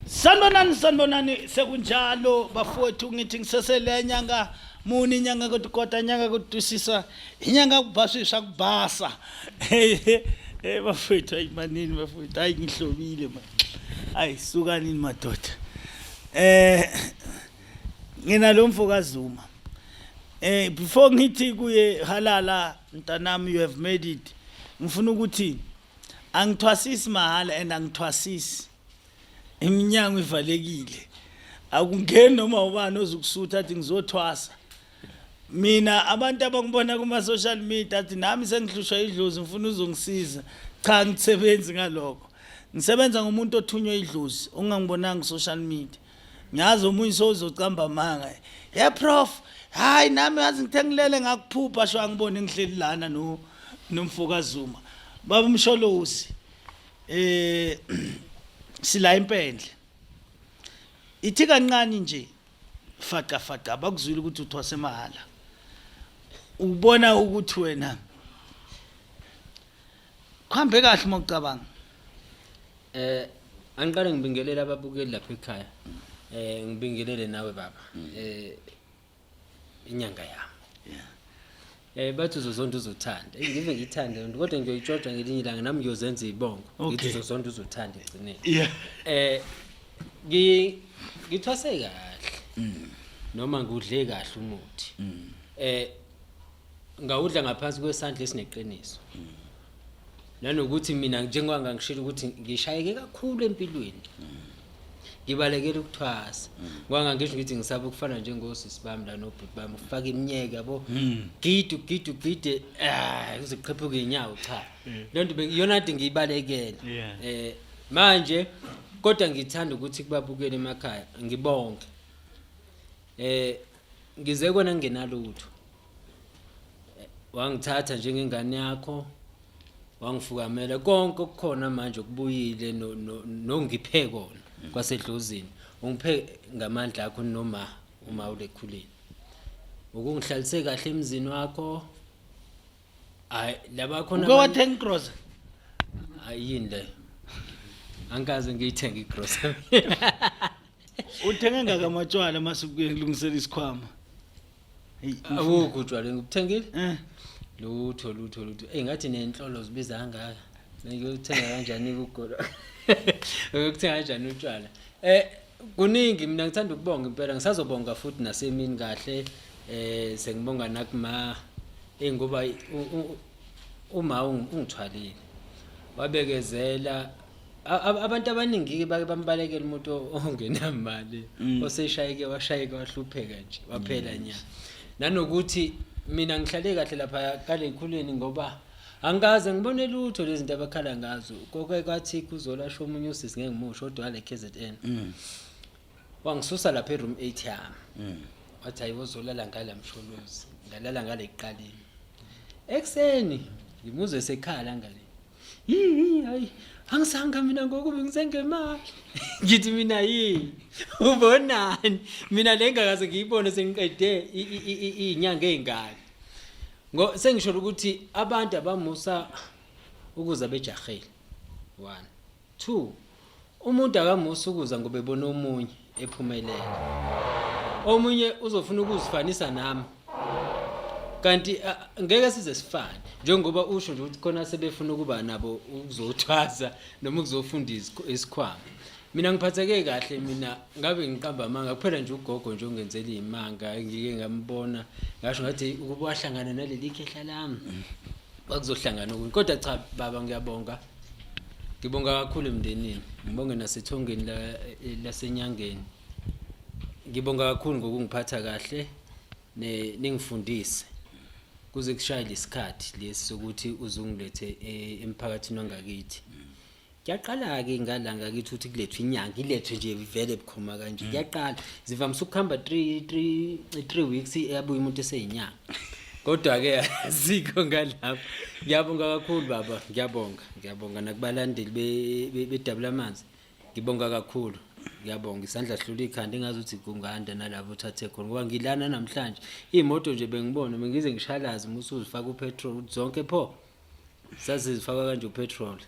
Sanibonani sanibonani sekunjalo bafowethu ngithi ngisesele nyanga muni inyanga kodwa kodwa inyanga kodusisa inyanga kubhasisa kubhasa eh bafowethu ayimanini bafowethu hayi ngihlobile manje hayi sukanini madoda eh ngina lo mfokazuma eh before ngithi kuye halala mntanami you have made it ngifuna ukuthi angithwasisi mahala and angithwasisi iminyango ivalekile akungeni noma ubani ozukusutha athi ngizothwasa mina abantu abangibona kuma social media athi nami sengihlushwa idlozi ngifuna uzongisiza cha ngisebenzi ngaloko ngisebenza ngomuntu othunywa idlozi ongangibonanga social media ngiyazi omunye sozocamba amanga ye prof hayi nami yazi ngithe ngilele ngakuphupha sho angibone ngihleli lana no nomfoka Zuma baba umsholozi eh sila impendle ithi kancane nje faqa faqa bakuzwile ukuthi uthwase mahala ubona ukuthi wena kuhambe kahle uma ucabanga eh angiqale ngibingelele ababukeli lapha ekhaya eh ngibingelele nawe baba eh inyanga yami yeah Eh bathi uzozonda uzothanda. Eh, ngive ngithande lento kodwa ngiyoyitshotsha ngelinye ilanga nami ngiyozenza izibongo. Ngithi uzozonda uzothanda egcineni. Yeah. Eh ngi ngithwase kahle. Mm. Noma ngudle kahle umuthi. Mm. Eh ngawudla ngaphansi kwesandla esineqiniso. Mm. nanokuthi mina njengoba ngangishilo ukuthi ngishayeke kakhulu empilweni ngibalekela ukuthwasa ngoba ngangisho ukuthi ngisaba ukufana njengosisi bami la nobhuti bami ukufaka iminyeke yabo gidi ugidi ugide ah kuze kuqhephuke inyawo cha le nto bengi- iyona nto ngiyibalekele Yeah. eh manje kodwa ngithanda ukuthi kubabukele emakhaya ngibonke eh ngize kona ngingenalutho wangithatha njengengane yakho wangifukamela konke okukhona manje okubuyile nongiphe kona mm. kwasedlozini ungiphe ngamandla akho noma uma ulekhulile ukungihlalise kahle emzini wakho hayi laba khona uke wathenga igrosa ayini le angikaze ngiyithenge igrosa uthenge ngakamatshwala mase kuye kulungisela isikhwama Hey, Awukho utshwala ngikuthengile? Eh. Lutho lutho lutho. Ey ngathi nenhlolo zibiza kangaka. Ngiyothenga kanjani ukugolo? Uyokuthenga kanjani utshwala? Eh kuningi mina ngithanda ukubonga impela ngisazobonga futhi nasemini kahle eh sengibonga nakuma eh ngoba u- u- uma ungithwalile wabekezela abantu abaningi-ke bake bambalekela umuntu ongenamali mm. oseshayeke washayeke wahlupheka nje waphela nya nanokuthi mina ngihlale kahle lapha kaley'khulwini ngoba angikaze ngibone lutho lezi zinto abakhala ngazo koke kwathi kuzolasho omunye usisi ngeke ngimusho kodwa wale k z n mm. wangisusa lapha eroom eight yami mm. wathi hayi wozolala ngala msholozi ngalala ngale kuqaleni ekuseni ngimuzwe sekhala ngale hayi angisanga mina ngoku bengisengemali ngithi mina yini ubonani mina le ngakaze ngiyibone sengiqede iy'nyanga ey'ngaki ngo sengisholo ukuthi abantu abamusa ukuza bejahile one 2 umuntu akamusi ukuza ngoba ebona omunye ephumelela omunye uzofuna ukuzifanisa nami kanti ngeke size sifane njengoba usho nje ukuthi khona sebefuna ukuba nabo ukuzothwasa noma ukuzofunda isikhwama mina ngiphatheke kahle mina ngabe ngiqamba amanga kuphela nje ugogo nje ongenzela imanga ngike ngambona ngasho ngathi ukuba wahlangana naleli khehla lami bakuzohlangana okunye kodwa cha baba ngiyabonga Ngibonga kakhulu emndenini, ngibonge nasethongeni la eh, lasenyangeni. Ngibonga kakhulu ngokungiphatha kahle ne ningifundise. Kuze kushaye lesikhathi lesi sokuthi uzungilethe eh, emphakathini wangakithi. Kuyaqala ke ngala ngakithi ukuthi kulethwe inyanga, ilethwe nje vele bukhoma kanje. Kuyaqala. Zivamisa ukuhamba 3 3 3 weeks eyabuya umuntu eseyinyanga. Kodwa-ke asikho ngalapho. Ngiyabonga kakhulu baba, ngiyabonga. Ngiyabonga nakubalandeli bedabula amanzi. Ngibonga kakhulu. Ngiyabonga isandla sihlula ikhanda engazi ukuthi kunganda nalapho uthathe khona ngoba ngilana namhlanje. Imoto nje bengibona bengize ngishalaze umuthi uzifaka upetrol ukuthi zonke pho. Sazizifaka kanje upetrol.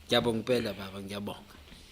Ngiyabonga impela baba, ngiyabonga.